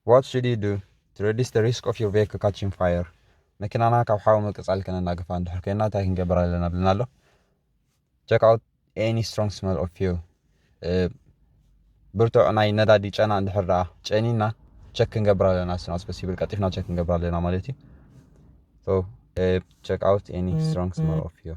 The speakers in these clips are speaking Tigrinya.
What should you do to reduce the risk of your vehicle catching fire? መኪናና ካብ ሓዊ ምቅጻል ከነናግፋ እንድሕር ኮይና እንታይ ክንገብር ኣለና ብልና ኣሎ ቸክ ኣውት ኤኒ ስትሮንግ ስመል ኦፍ ፊል ብርቱዕ ናይ ነዳዲ ጨና እንድሕር ደኣ ጨኒና ቸክ ክንገብር ኣለና ስና ስበስ ይብል ቀጢፍና ቸክ ክንገብር ኣለና ማለት እዩ ቸክ ኣውት ኤኒ ስትሮንግ ስመል ኦፍ ፊል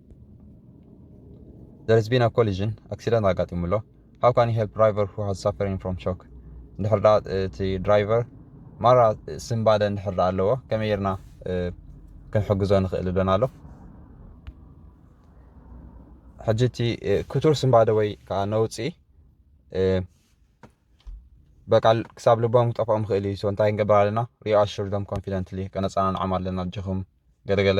There has been a collision, accident ኣጋጢሙ ኣሎ። How can you help driver who has suffering from shock? እንድሕር ደኣ እቲ ድራይቨር ማራ ስንባደ እንድሕር ደኣ ኣለዎ ከመይ ጌርና ክንሕግዞ ንኽእል እሎና ኣሎ። ሕጂ እቲ ክቱር ስንባደ ወይ ከዓ ነውፂ በቃ ክሳብ ልቦም ክጠፍኦም ይኽእል እዩ። ሶ እንታይ ክንገብር ኣለና? ሪኣሹር ደም ኮንፊደንትሊ ከነፀናንዖም ኣለና። ኣጆኹም ገለገለ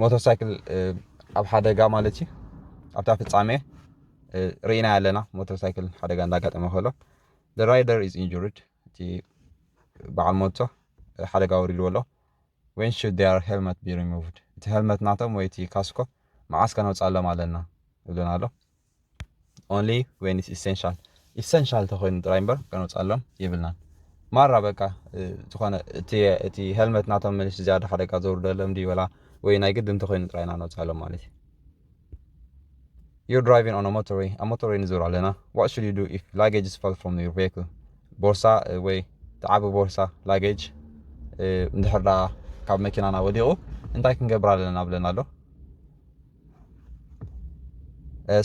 ሞተር ሳይክል ኣብ ሓደጋ ማለት እዩ ኣብታ ፍጻሜ ርኢና ኣለና ሞተር ሳይክል ሓደጋ እንዳጋጠመ ከሎ ራይደር ኢዝ ኢንጁርድ እቲ በዓል ሞቶ ሓደጋ ወሪድዎ ኣሎ ወን ሹድ ዴር ሄልመት ቢ ሪሙቭድ እቲ ሄልመት ናቶም ወይ እቲ ካስኮ መዓስ ከነውፅኣሎም ኣለና ይብለና ኣሎ ኦንሊ ዌን ኢትስ ኢሰንሻል ኢሰንሻል ተኮይኑ ጥራይ እምበር ከነውፅኣሎም የብልናን ማራ በቃ ዝኾነ እቲ ሄልመት ናቶም ምንሽ ዝያዳ ሓደጋ ዘውርደሎም ድዩ ወላ ወይ ናይ ግዲ እንተኮይኑ ጥራይ ኢና ነውፅኣሎም ማለት እዩ You're driving on a motorway ኣብ ሞቶርወይ ንዞር ኣለና ዋት ሹድ ዩ ዱ ኢፍ ላጌጅስ ፋል ፍሮም ዩር ቬክል ቦርሳ ወይ ተዓቢ ቦርሳ ላጌጅ እንድሕር ዳ ካብ መኪናና ወዲቑ እንታይ ክንገብር ኣለና ብለና ኣሎ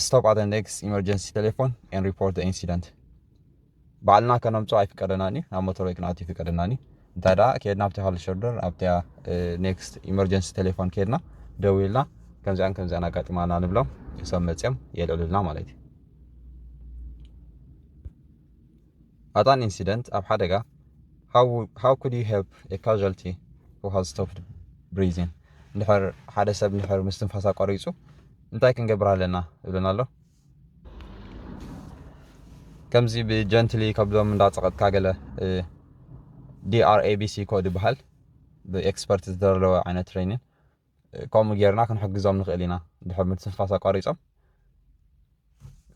ስቶፕ ኣት ኔክስት ኢመርጀንሲ ቴሌፎን ኤን ሪፖርት ኢንሲደንት ባዕልና ከነምፅኦ ኣይፍቀደናን እዩ ናብ ሞተር ወይ ክንኣት ይፍቀደናን እዩ እንታይ ደኣ ከድና ኣብቲ ሃሉ ሸርደር ኣብቲ ኔክስት ኢመርጀንሲ ቴሌፎን ከድና ደው ኢልና ከምዚኣን ከምዚኣን ኣጋጢማና ንብሎም ሰብ መፅኦም የልዕሉልና ማለት እዩ At an incident ኣብ ሓደጋ How, how could you help a casualty who has stopped breathing? እንድሕር ሓደ ሰብ እንድሕር ምስትንፋስ ኣቋሪጹ እንታይ ክንገብር ኣለና ይብለና ኣሎ። ከምዚ ብጀንትሊ ከብዶም እንዳጸቐጥካ ገለ ዲኣርኤቢሲ ኮድ ይበሃል ብኤክስፐርት ዝተደለወ ዓይነት ትሬኒን ከምኡ ጌርና ክንሕግዞም ንኽእል ኢና ድሕር ምትንፋስ ኣቋሪጾም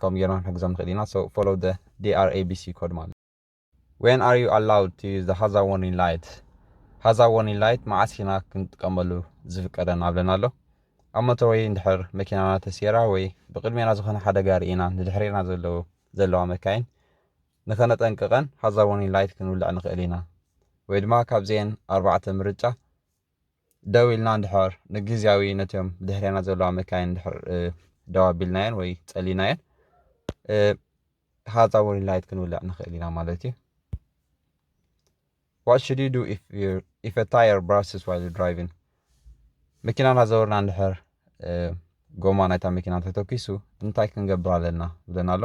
ከምኡ ጌርና ክንሕግዞም ንኽእል ኢና so follow the DRABC code ማለት when are you allowed to use the hazard warning light hazard warning light መዓስ ኢና ክንጥቀመሉ ዝፍቀደና ብለና ኣሎ ኣብ ሞተር ወይ እንድሕር መኪናና ተሴራ ወይ ብቅድሜና ዝኾነ ሓደጋ ርኢና ንድሕሬና ዘለዉ ዘለዋ መካይን ንኸነጠንቅቐን ሃዛር warning light ክንውልዕ ንኽእል ኢና ወይ ድማ ካብዚኤን ኣርባዕተ ምርጫ ደው ኢልና እንድሕር ንግዝያዊ ነቶም ድሕሬና ዘለዋ መካይን እንድሕር ደው ኣቢልናየን ወይ ጸሊናየን ሃዛ ወሪን ላይት ክንውልዕ ንኽእል ኢና ማለት እዩ What should you do if, you're, if a tire bursts while you're driving? መኪና እናዘወርና እንድሕር ጎማ ናይታ መኪና ተተኪሱ እንታይ ክንገብር ኣለና ብለና ኣሎ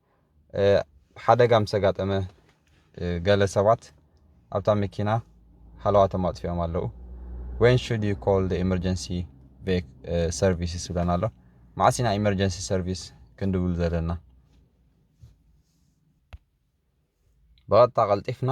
ሓደጋ ምስ ኣጋጠመ ገለ ሰባት ኣብታ መኪና ሃለዋቶም ኣጥፊኦም ኣለዉ ወን ሹድ ዩ ኮል ኤመርጀንሲ ሰርቪስስ ብለን ኣሎ መዓስ ኢና ኤመርጀንሲ ሰርቪስ ክንድውል ዘለና ብቐጥታ ቀልጢፍና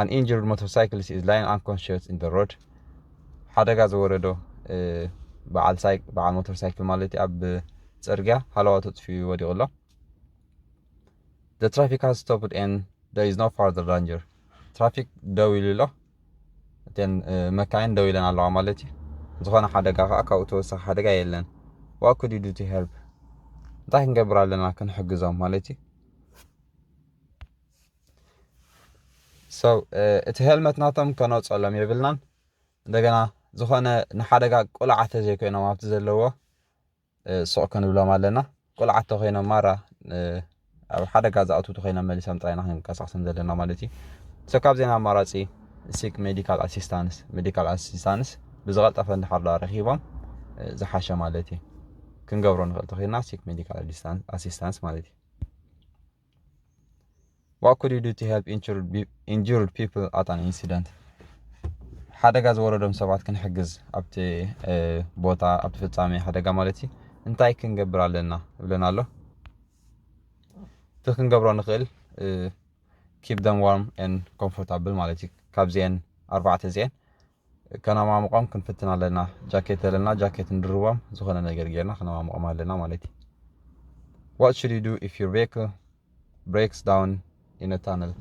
ኣን ኢንጁርድ ሞቶርሳይክሊስት ኢዝ ላይንግ ኣንኮንሽስ ኢን ዘ ሮድ ሓደጋ ዝወረዶ በዓል ሞተር ሳይክል ማለት እዩ ኣብ ፅርግያ ሃለዋቱ ኣጥፍኡ ወዲቑ ኣሎ ዘ ትራፊክ ሃዝ ስቶፕድ ኤን ደ ኢዝ ኖ ፋርደር ዳንጀር ትራፊክ ደው ኢሉ ኣሎ እተን መካይን ደው ኢለን ኣለዋ ማለት እዩ ዝኾነ ሓደጋ ከዓ ካብኡ ተወሳኺ ሓደጋ የለን ዋ ኩድ ዩ ዱ ቱ ሄልፕ እንታይ ክንገብር ኣለና ክንሕግዞም ማለት እዩ ሰው እቲ ሄልመት ናቶም ከነውፀሎም የብልናን እንደገና ዝኾነ ንሓደጋ ቁልዓ ተዘይኮይኖም ኣብቲ ዘለዎ ሱቕ ክንብሎም ኣለና ቁልዓ ተኮይኖም ማራ ኣብ ሓደጋ ዝኣትው ተኮይኖም መሊሶም ጥራይና ክንቀሳቅሶም ዘለና ማለት እዩ ሰው ካብዜና ኣማራፂ ሲክ ሜዲካል ኣሲስታንስ ሜዲካል ኣሲስታንስ ብዝቐልጠፈ እንድሓር ዶ ኣረኪቦም ዝሓሸ ማለት እዩ ክንገብሮ ንኽእል ተኮይና ሲክ ሜዲካል ኣሲስታንስ ማለት እዩ What could you do to help injured, injured people at an incident? ሓደጋ ዝወረዶም ሰባት ክንሕግዝ ኣብቲ ቦታ ኣብቲ ፍጻሜ ሓደጋ ማለት እዩ እንታይ ክንገብር ኣለና ይብለና ኣሎ እቲ ክንገብሮ ንኽእል ኪፕ ደም ዋርም ን ኮምፎርታብል ማለት እዩ ካብዚአን ኣርባዕተ እዚአን ከነማሙቆም ክንፍትን ኣለና ጃኬት ዘለና ጃኬት ንድርቦም ዝኾነ ነገር ጌርና ከነማሙቆም ኣለና ማለት እዩ What should you do if your vehicle breaks down in a tunnel?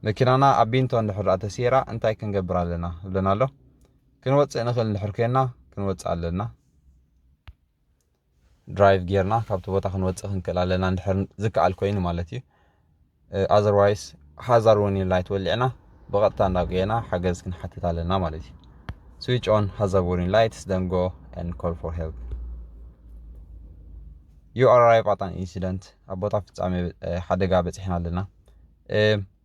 መኪናና ኣብ ቢንቶ እንድሕር ተሲራ እንታይ ክንገብር ኣለና ይብለና ኣሎ። ክንወፅእ ንኽእል እንድሕር ኮይና ክንወፅእ ኣለና። ድራይቭ ጌርና ካብቲ ቦታ ክንወፅእ ክንክእል ኣለና እንድሕር ዝከኣል ኮይኑ ማለት እዩ ኣዘርዋይስ ሃዛር ወርኒንግ ላይት ወሊዕና ብቐጥታ እንዳ ጎየና ሓገዝ ክንሓትት ኣለና ማለት እዩ ስዊች ኦን ሃዛር ወርኒንግ ላይትስ ደን ጎ ን ኮል ፎር ሄልፕ ዩ ኣር ኣራይቭ ኣት ኣን ኢንሲደንት ኣብ ቦታ ፍፃሜ ሓደጋ በፂሕና ኣለና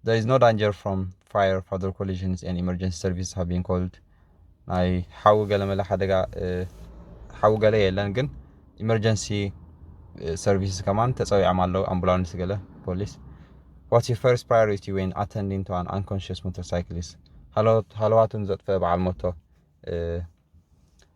there is no danger from fire further collisions and emergency services have been called ናይ ሓዊ ገለመለ ሓደጋ ሓዊ ገለ የለን ግን ኢመርጀንሲ ሰርቪስስ ከማን ተፀዊዖም ኣለዉ ኣምቡላንስ ገለ ፖሊስ ዋትስ ዩር ፈርስት ፕራዮሪቲ ወይን ኣተንዲን ቱ ኣን ኣንኮንሽስ ሞተር ሳይክሊስ ሃለዋቱን ዘጥፈ በዓል ሞቶ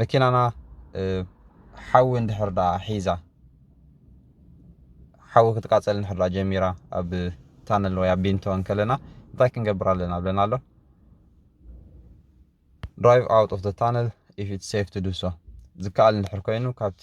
መኪናና ሓዊ እንድሕር ደኣ ሒዛ ሓዊ ክትቃፀል እንድሕር ደኣ ጀሚራ ኣብ ታነል ወይ ኣብ ቢንቶ እንከለና እንታይ ክንገብር ኣለና ብለና ኣሎ ድራይቭ ኣውት ኦፍ ታነል ኢፍ ኢት ሴፍ ቱ ዱ ሶ ዝከኣል እንድሕር ኮይኑ ካብቲ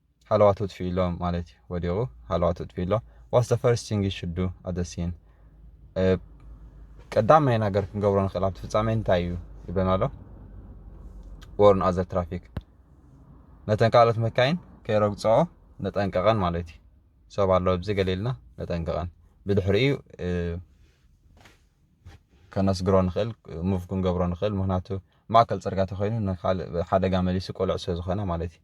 ሃለዋት ኣጥፊኡ'ሎ ማለት እዩ፣ ወዲቑ ሃለዋት ኣጥፊኡ'ሎ What's the first thing you should do at the scene? ቀዳማይ ነገር ክንገብሮ ንኽእል ኣብቲ ፍጻሜ እንታይ እዩ ይብለና ኣሎ or no other traffic ነተን ካልኦት መካይን ከይረግጽኦ ነጠንቀቐን ማለት እዩ ሰብ ኣሎ ኣብዚ ገለ ኢልና ነጠንቀቐን ብድሕሪኡ ከነስግሮ ንኽእል ሙቭ ክንገብሮ ንኽእል ምክንያቱ ማእከል ጽርግያ ተኮይኑ ንካልእ ሓደጋ መሊሱ ቆልዕ ስለ ዝኾነ ማለት እዩ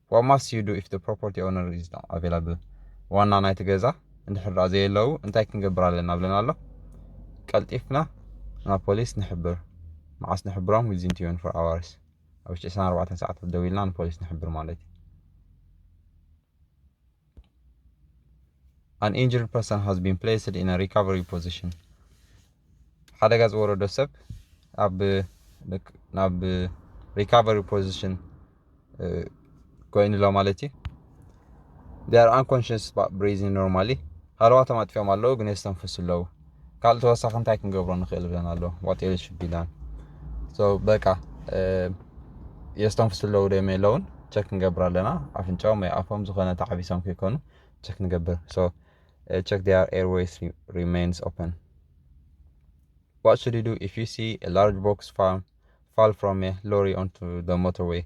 ዋት ማስት ዩ ዱ ኢፍ ዘ ፕሮፖርቲ ኦውነር ኢዝ ኖት ኣቬላብል ዋና ናይቲ ገዛ እንድሕር ደኣ ዘየለዉ እንታይ ክንገብር ኣለና ብለና ኣሎ ቀልጢፍና ናብ ፖሊስ ንሕብር መዓስ ንሕብሮም ዊዝን ትዌን ፎር ኣዋርስ ኣብ ውሽጢ ዕስራን ኣርባዕተን ሰዓታት ደዊልና ንፖሊስ ንሕብር ማለት እዩ ኣን ኢንጅርድ ፐርሰን ሃዝ ቢን ፕሌስድ ኢን ሪካቨሪ ፖዚሽን ሓደጋ ዝወረዶ ሰብ ኣብ ናብ ሪካቨሪ ፖዚሽን ኮይኑሎ ማለት እዩ ር ኣንኮንሽስ ብሬዚን ኖርማሊ ሃለዋቶም ኣጥፊኦም ኣለዉ ግን የስተንፍሱ ኣለዉ ካልእ ተወሳኺ እንታይ ክንገብሮ ንኽእል ብለን ኣሎ ዋጤል ሽቢላን በቃ የስተንፍሱ ኣለዉ ዶ የለውን ቸክ ንገብር ኣለና ኣፍንጫኦም ወይ ኣፎም ዝኾነ ተዓቢሶም ከይኮኑ ቸክ ንገብር ሶ ቸክ ዲር ኤርዌይስ ሪሜንስ ኦፐን What should you do if you see a large box fall, fall from a lorry onto the motorway?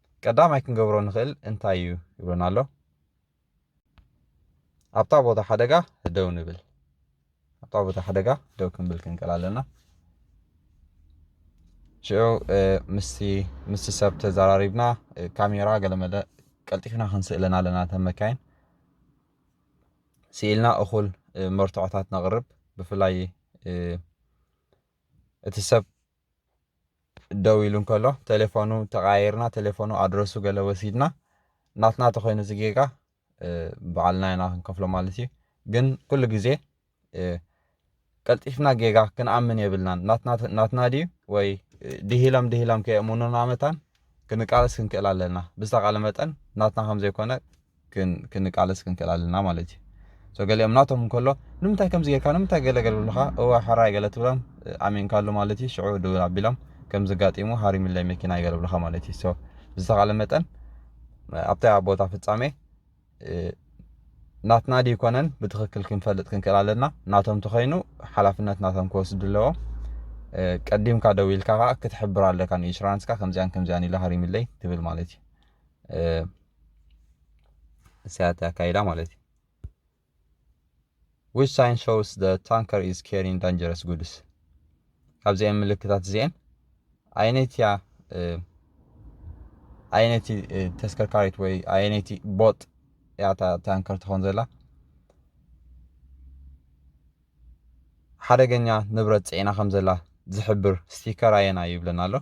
ቀዳማይ ክንገብሮ ንኽእል እንታይ እዩ ይብለና ኣሎ። ኣብታ ቦታ ሓደጋ ደው ንብል። ኣብታ ቦታ ሓደጋ ደው ክንብል ክንቀል ኣለና። ሽዑ ምስ ሰብ ተዘራሪብና ካሜራ ገለመለ ቀልጢፍና ክንስእለን ኣለና እተን መካይን ስኢልና እኹል መርትዖታት ነቕርብ ብፍላይ እቲ ሰብ ደው ኢሉ እንከሎ ቴሌፎኑ ተቀያይርና ቴሌፎኑ ኣድረሱ ገለ ወሲድና ናትና ተኮይኑ እዚ ጌጋ በዓልና ኢና ክንከፍሎ ማለት እዩ ግን ኩሉ ግዜ ቀልጢፍና ጌጋ ክንኣምን የብልናን ናትና ድዩ ወይ ድሂሎም ድሂሎም ከየእምኑና መታን ክንቃለስ ክንክእል ኣለና ብዝተቃለ መጠን ናትና ከም ዘይኮነ ክንቃለስ ክንክእል ኣለና ማለት እዩ ሶ ገሊኦም ናቶም እንከሎ ንምንታይ ከምዚ ጌርካ ንምንታይ ገለ ገለ ብልካ እወ ሕራይ ገለ ትብሎም ኣሚንካሉ ማለት እዩ ሽዑ ድውል ኣቢሎም ከምዚ ኣጋጢሙ ሃሪምለይ መኪናይ ገለ ብልካ ማለት እዩ ሶ ብዝተኻለ መጠን ኣብታ ቦታ ፍጻሜ ናትና ድዩ ኮነን ብትኽክል ክንፈልጥ ክንክእል ኣለና ናቶም ተኸይኑ ሓላፍነት ናቶም ክወስዱ ኣለዎም ቀዲምካ ደው ኢልካ ከዓ ክትሕብር ኣለካ ንኢንሹራንስካ ከምዚኣን ከምዚኣን ኢለ ሃሪምለይ ትብል ማለት እዩ እሳያት ኣካይዳ ማለት እዩ ዊች ሳይን ሾውስ ደ ታንከር ኢዝ ኬሪን ዳንጀረስ ጉድስ ካብዚኣን ምልክታት እዚአን ኣየነይቲ እያ ኣየነይቲ ተስከርካሪት ወይ ኣየነይቲ ቦጥ እያ ታንከር ትኾን ዘላ ሓደገኛ ንብረት ጽዒና ከም ዘላ ዝሕብር ስቲከር ኣየናይ እዩ ይብለና ኣሎ።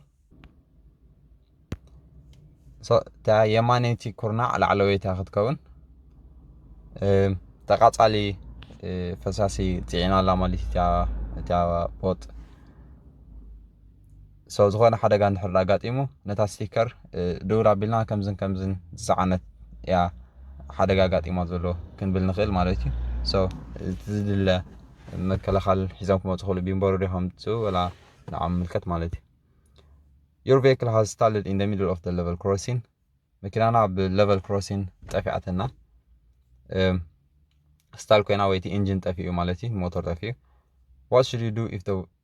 እታ የማነይቲ ኩርናዕ ላዕለወይታ ክትከውን ተቃጻሊ ፈሳሲ ጽዒና ኣላ ማለት እያ እታ ቦጥ ሶ ዝኾነ ሓደጋ እንድሕር ድኣ ኣጋጢሙ ነታ ስቲከር ድውል ኣቢልና ከምዝን ከምዝን ዝጸዓነት እያ ሓደጋ ኣጋጢማ ዘሎ ክንብል ንኽእል ማለት እዩ ሶ እቲ ዝድለ መከላኸል ሒዞም ክመጹ ክእሉ ቢምበሩ ዶ ከምጽኡ ወላ ንዓም ምልከት ማለት እዩ Your vehicle has stalled in the middle of the level crossing መኪናና ኣብ ሌቨል ክሮሲን ጠፊኣትና ስታል ኮይና ወይቲ ኢንጂን ጠፊኡ ማለት እዩ ሞተር ጠፊኡ ዋት ሹድ ዩ ዱ ኢፍ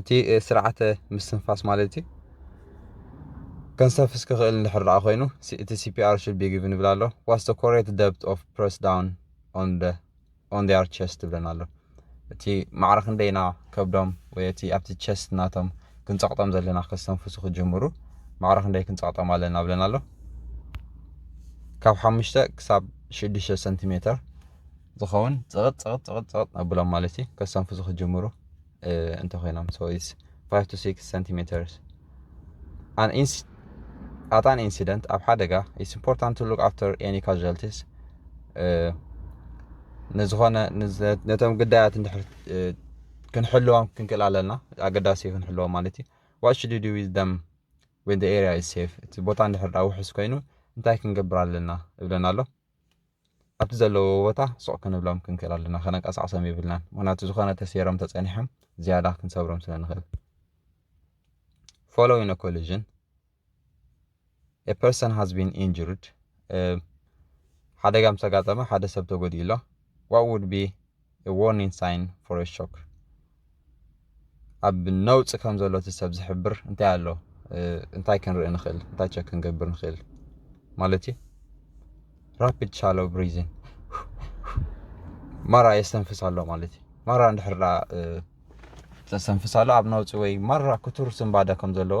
እቲ ስርዓተ ምስትንፋስ ማለት እዩ ከንሰፍስ ክኽእል እንድሕር ደኣ ኮይኑ እቲ ሲፒኣር ሹድ ቢ ጊቭን ይብል ኣሎ ዋስ ደ ኮሬት ደብት ኦፍ ፕረስ ዳውን ኦን ደ ኦን ዴር ቸስት ይብለና ኣሎ እቲ ማዕረ ክንደይ ኢና ከብዶም ወይ እቲ ኣብቲ ቸስት ናቶም ክንጸቕጦም ዘለና ከስተንፍሱ ክጅምሩ ማዕረ ክንደይ ክንጸቕጦም ኣለና ብለና ኣሎ ካብ ሓሙሽተ ክሳብ ሽዱሽተ ሰንቲሜተር ዝኸውን ፅቕጥ ፅቕጥ ፅቕጥ ፅቕጥ ነብሎም ማለት እዩ ከሰንፍሱ ክጅምሩ እንተኮይኖም ሶ ኢስ 5 to 6 centimeters an inc at an incident ኣብ ሓደጋ ኢስ ኢምፖርታንት ቱ ሉክ ኣፍተር ኤኒ ካዥዋልቲስ ንዝኾነ ነቶም ግዳያት እንድሕር ክንሕልዎም ክንክእል ኣለና ኣገዳሲ እዩ ክንሕልዎም ማለት እዩ ዋት ሽድ ዱ ዊዝ ደም ወን ኤሪያ ኢስ ሴፍ እቲ ቦታ እንድሕር ዳ ውሕስ ኮይኑ እንታይ ክንገብር ኣለና እብለና ኣሎ ኣብቲ ዘለውዎ ቦታ ሱቕ ክንብሎም ክንክእል ኣለና፣ ከነንቀሳቕሶም የብልናን፣ ምኽንያቱ ዝኾነ ተሰይሮም ተጸኒሖም ዝያዳ ክንሰብሮም ስለ ንኽእል። Following a collision, a person has been injured. ሓደጋ ምስ ኣጋጠመ ሓደ ሰብ ተጎዲኡ ኣሎ። What would be a warning sign for a shock ኣብ ነውጺ ከም ዘሎ እቲ ሰብ ዝሕብር እንታይ ኣሎ እንታይ ክንርኢ ንኽእል እንታይ ቸክ ክንገብር ንኽእል ማለት እዩ ራፒድ ሻሎ ብሪዝን ማራ የስተንፍስ ኣሎ ማለት እዩ ማራ እንድሕር ዳ ተስተንፍስ ኣሎ ኣብ ነውጺ ወይ ማራ ክቱር ስንባደ ከም ዘለዎ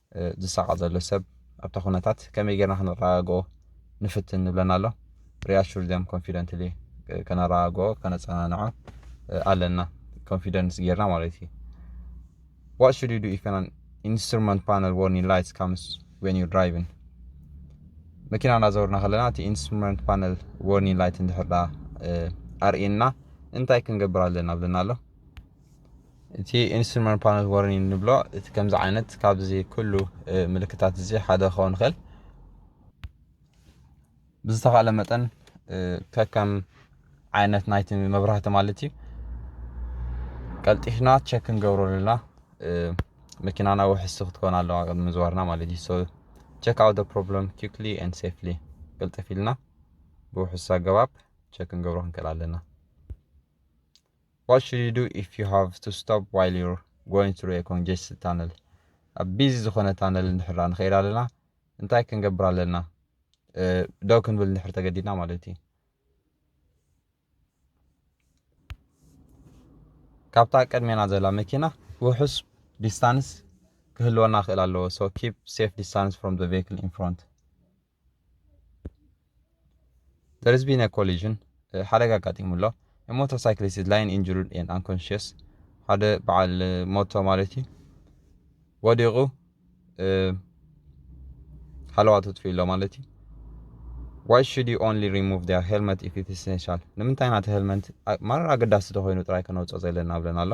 ዝሳቐ ዘሎ ሰብ ኣብታ ኩነታት ከመይ ጌርና ከነረጋግኦ ንፍትን ንብለና ኣሎ ሪኣሹር ዘም ኮንፊደንትሊ ከነረጋግኦ ከነጸናንዖ ኣለና ኮንፊደንስ ጌርና ማለት እዩ ዋት ሹድ ዩ ዱ ኢፍ ኣን ኢንስትሩመንት ፓነል ዎርኒንግ ላይትስ ካምስ ወን ዩ ድራይቭን መኪና እናዘወርና ከለና እቲ ኢንስትሩመንት ፓነል ዎርኒንግ ላይት እንድሕር ኣርእየና እንታይ ክንገብር ኣለና ብለና ኣሎ እቲ ኢንስትሩመንት ፓነል ዋርኒንግ ንብሎ እቲ ከምዚ ዓይነት ካብዚ ኩሉ ምልክታት እዚ ሓደ ክኸውን ይኽእል ብዝተኻለ መጠን ከከም ዓይነት ናይቲ መብራህቲ ማለት እዩ ቀልጢፍና ቸክ ክንገብሮ ኣለና መኪናና ውሕስቲ ክትኮን ኣለዋ ቅድሚ ምዝዋርና ማለት እዩ ሶ ቸክ ኣውት ፕሮብለም ኪክሊ ን ሴፍሊ ቅልጥፍ ኢልና ብውሕስ ኣገባብ ቸክ ክንገብሮ ክንክእል ኣለና What should you do if you have to stop while you're going through a congested tunnel? ኣብ ቢዚ ዝኾነ ታነል እንድሕር ንኸይድ ኣለና እንታይ ክንገብር ኣለና? ደው ክንብል እንድሕር ተገዲድና ማለት እዩ። ካብታ ቅድሜና ዘላ መኪና ውሑስ ዲስታንስ ክህልወና ክእል ኣለዎ ሶ ኪፕ ሴፍ ዲስታንስ ፍሮም ዘ ቬክል ኢን ፍሮንት There has been a collision ሓደጋ ኣጋጢሙ ኣሎ ሞተር ሳይክሊስት ኢዝ ላይን ኢንጁርድ ኤንድ ኣንኮንሽስ ሓደ በዓል ሞቶ ማለት እዩ ወዲቑ ሓለዋ ተጥፍኡ ኣሎ ማለት እዩ ዋይ ሽድ ዩ ኦንሊ ሪሙቭ ር ሄልመት ኢፍ ኢት ኢሰንሻል ንምንታይ ናተ ሄልመንት ማረር ኣገዳሲ ተኮይኑ ጥራይ ከነውፅኦ ዘለና ብለና ኣሎ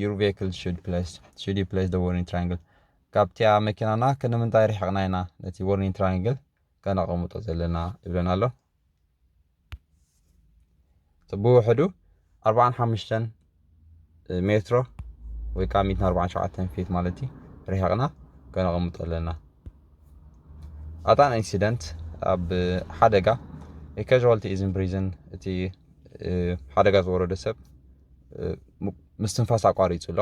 Your vehicle should place should you place the warning triangle ካብቲያ መኪናና ክንምንታይ ርሕቕና ኢና ነቲ warning triangle ከነቐምጦ ዘለና ይብለና ኣሎ ብውሕዱ 45 ሜትሮ ወይ ከዓ 147 ፊት ማለት እዩ ርሕቕና ከነቐምጦ ኣለና ኣጣን ኢንሲደንት ኣብ ሓደጋ የካዥዋልቲ ኢዝን ፕሪዝን እቲ ሓደጋ ዝወረደ ሰብ ምስትንፋስ ኣቋሪጹ ኣሎ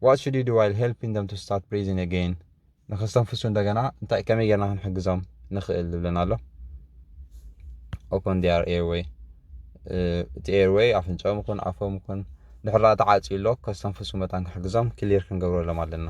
ዋት ሹድ ዩ ዱ ዋይል ሄልፒንግ ደም ቱ ስታርት ብሪዚንግ ኣገይን ንከስተንፍሱ እንደገና እንታይ ከመይ ጌርና ክንሕግዞም ንኽእል ዝብለና ኣሎ ኦፖን ዲያር ኤርወይ እቲ ኤርወይ ኣፍንጫኦም ይኹን ኣፎም ይኹን ድሕራ ተዓፅዩ ኣሎ ከስተንፍሱ መታን ክሕግዞም ክሊር ክንገብረሎም ኣለና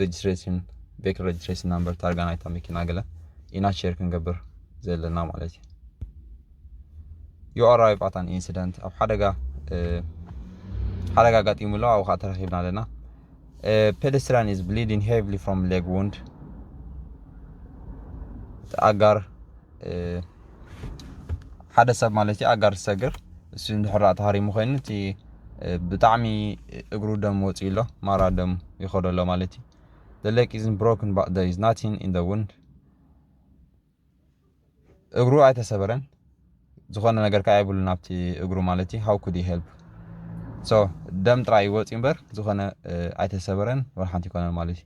ሬጅስትሬሽን ቤክ ሬጅስትሬሽን ናምበር ታርጋ ናይታ መኪና ገለ ኢና ሼር ክንገብር ዘለና ማለት እዩ ዩ ኣራይቭ ኣት ኣን ኢንሲደንት ኣብ ሓደጋ ሓደጋ ኣጋጢሙ ኣሎ ኣብኡ ከዓ ተረኪብና ኣለና ፔደስትራን ኢዝ ብሊዲን ሄቭሊ ፍሮም ሌግ ውንድ ኣጋር ሓደ ሰብ ማለት እዩ ኣጋር ዝሰግር እሱ እንድሕር ተሃሪሙ ኮይኑ እቲ ብጣዕሚ እግሩ ደም ወፂኡ ኣሎ ማራ ደም ይኸዶ ኣሎ ማለት እዩ The lake isn't broken but there is nothing in the wind እግሩ ኣይተሰበረን ዝኾነ ነገር ከዓ የብሉን ኣብቲ እግሩ ማለት እዩ ሃው ኩድ ሄልፕ ሶ ደም ጥራይ ይወፅእ እምበር ዝኾነ ኣይተሰበረን ወላ ሓንቲ ይኮነን ማለት እዩ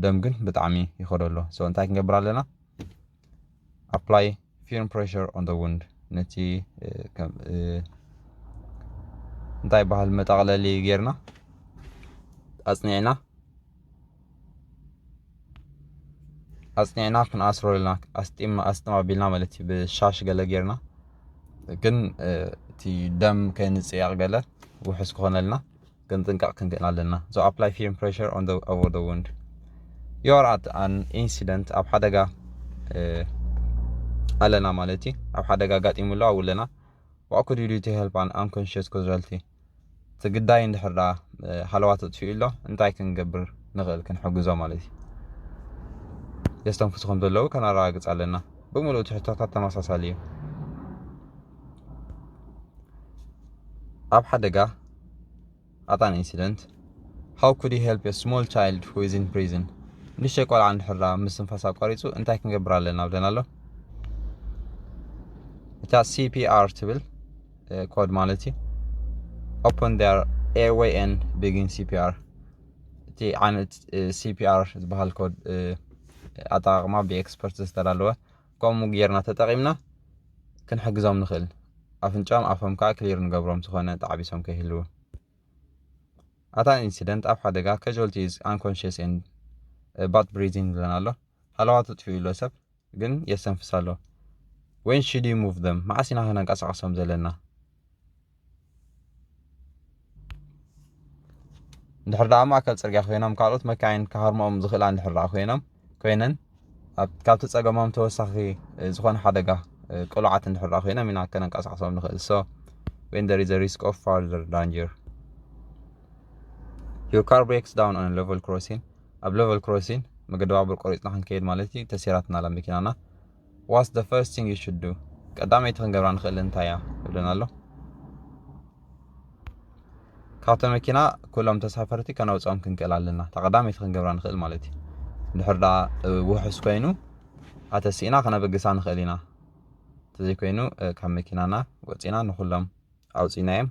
ደም ግን ብጣዕሚ ይኸዶ ኣሎ ሶ እንታይ ክንገብር ኣለና ኣፕላይ ፊርም ፕሬሽር ኦን ደ ውንድ ነቲ እንታይ ይበሃል መጠቕለሊ ጌርና ኣፅኒዕና ኣፅኒዕና ክንኣስሮ ኢልና ኣስጢም ኣስጥም ኣቢልና ማለት እዩ ብሻሽ ገለ ጌርና ግን እቲ ደም ከይንፅያቕ ገለ ውሑስ ክኾነልና ግን ጥንቃቕ ክንክን ኣለና። ዞ ኣፕላይ ፊርም ፕሬሸር ኦን ዘ ኦቨር ዘ ውንድ ዩ ኣር ኣት ኣን ኢንሲደንት ኣብ ሓደጋ ኣለና ማለት እዩ። ኣብ ሓደጋ ኣጋጢሙ ኣሎ ኣብኡ ኣለና ዋት ኩድ ዩ ዱ ቱ ሄልፕ ኣን ኣንኮንሽስ ኮዝራልቲ እቲ ግዳይ እንድሕር ዳ ሃለዋ ተጥፊኡ ኣሎ እንታይ ክንገብር ንኽእል ክንሕግዞ ማለት እዩ። የስተንፍሱ ከም ዘለዉ ከነረጋግጽ ኣለና። ብምሉእ ትሕቶታት ተመሳሳሊ እዩ። ኣብ ሓደጋ ኣጣን ኢንሲደንት How could you help a small child who is in prison? ንእሽተይ ቆልዓ እንድሕር ምስትንፋስ ኣቋሪጹ እንታይ ክንገብር ኣለና ብለና ኣሎ እታ CPR ትብል ኮድ ማለት እዩ ኦፕን ር ኤርዌይ ን ቢጊን CPR እቲ ዓይነት CPR ዝበሃል ኮድ ኣጠቃቅማ ብኤክስፐርት ዝተዳለወ ከምኡ ጌርና ተጠቂምና ክንሕግዞም ንኽእል ኣፍንጫም ኣፎም ከኣ ክሊር ንገብሮም ዝኾነ ተዓቢሶም ከይህልዉ ኣት ኣን ኢንሲደንት ኣብ ሓደጋ ካዥዋልቲ ኢዝ ኣንኮንሽስ ኤንድ ባት ብሪዚንግ ዝለን ኣሎ ሃለዋቱ ጥፊኡ ኣሎ ሰብ ግን የስተንፍስ ኣሎ ወይን ሽድ ዩ ሙቭ ዘም መዓስ ኢና ከነንቀሳቐሶም ዘለና እንድሕር ደኣ ኣብ ማእከል ጽርግያ ኮይኖም ካልኦት መካይን ክሃርምኦም ዝኽእላ እንድሕር ደኣ ኮይኖም ኮይነን ካብቲ ጸገሞም ተወሳኺ ዝኾነ ሓደጋ ቅሉዓት እንድሕር ደኣ ኮይኖም ኢና ከነንቀሳቕሶም ንኽእል ሶ when there is a risk of further danger your car breaks down on a level crossing ኣብ level crossing መገዲ ባቡር ቆሪጽና ክንከይድ ማለት እዩ ተሲራትና ኣላ መኪናና ዋትስ ዘ ፈርስት ቲንግ ዩ ሹድ ዱ ቀዳመይቲ ክንገብራ ንኽእል እንታይ እያ ይብለና ኣሎ ካብቲ መኪና ኩሎም ተሳፈርቲ ከነውፅኦም ክንክእል ኣለና እታ ቀዳመይቲ ክንገብራ ንኽእል ማለት እዩ ድሕር ዳ ውሑስ ኮይኑ ኣተሲእና ከነበግሳ ንኽእል ኢና እንተዘይኮይኑ ካብ መኪናና ወፂና ንኩሎም ኣውፂናዮም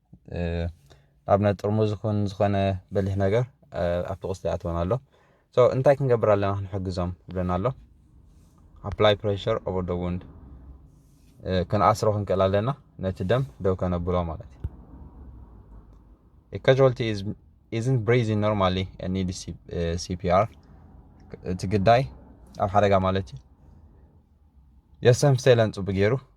ኣብ ናይ ጥርሙዝ ይኹን ዝኾነ በሊሕ ነገር ኣብቲ ቁስሊ ኣትወን ኣሎ ሶ እንታይ ክንገብር ኣለና ክንሕግዞም ይብለና ኣሎ ኣፕላይ ፕሬሽር ኦቨር ደ ውንድ ክንኣስሮ ክንክእል ኣለና ነቲ ደም ደው ከነብሎ ማለት እዩ ካዥዋልቲ ኢዝን ብሬዚን ኖርማሊ ኒድ ሲፒኣር እቲ ግዳይ ኣብ ሓደጋ ማለት እዩ የሰም ሴለን ፅቡቅ ገይሩ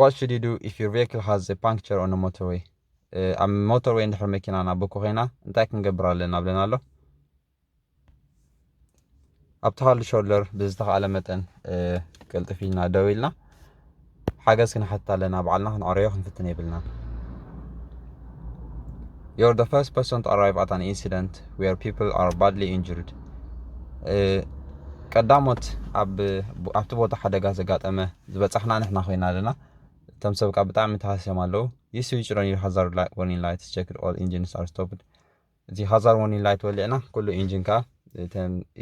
ዋት ሹድ ዩ ዱ ኢፍ ዩር ቬክል ሃዝ ኤ ፓንክቸር ኦን ሞተርዌይ ኣብ ሞተርዌይ እንድሕር መኪና ናበኮ ኮይና እንታይ ክንገብር ኣለና ብለና ኣሎ ኣብቲ ሃሉ ሾልደር ብዝተኸኣለ መጠን ቅልጥፍ ኢልና ደው ኢልና ሓገዝ ክንሓትት ኣለና ባዕልና ክንዕረዮ ክንፍትን የብልና You're the first person to arrive at an incident where people are badly injured. ቀዳሞት ኣብ ኣብቲ ቦታ ሓደጋ ዘጋጠመ ዝበጻሕና ንሕና ኮይና ኣለና እቶም ሰብ ካብ ብጣዕሚ ተሃስዮም ኣለዉ ይሱ ይጭሮን ዩ ሃዛር ወርኒን ላይት ቸክድ ኦል ኢንጂንስ ኣር ስቶፕድ እቲ ሃዛር ወርኒን ላይት ወሊዕና ኩሉ ኢንጂን ከዓ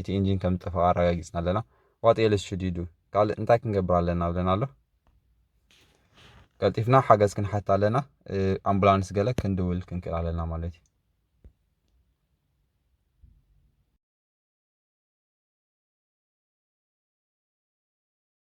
እቲ ኢንጂን ከም ዝጠፈቐ ኣረጋጊፅና ኣለና ዋጥ ኤልስ ሹድ ዩ ዱ ካልእ እንታይ ክንገብር ኣለና ብለና ኣሎ ቀልጢፍና ሓገዝ ክንሓት ኣለና ኣምቡላንስ ገለ ክንድውል ክንክእል ኣለና ማለት እዩ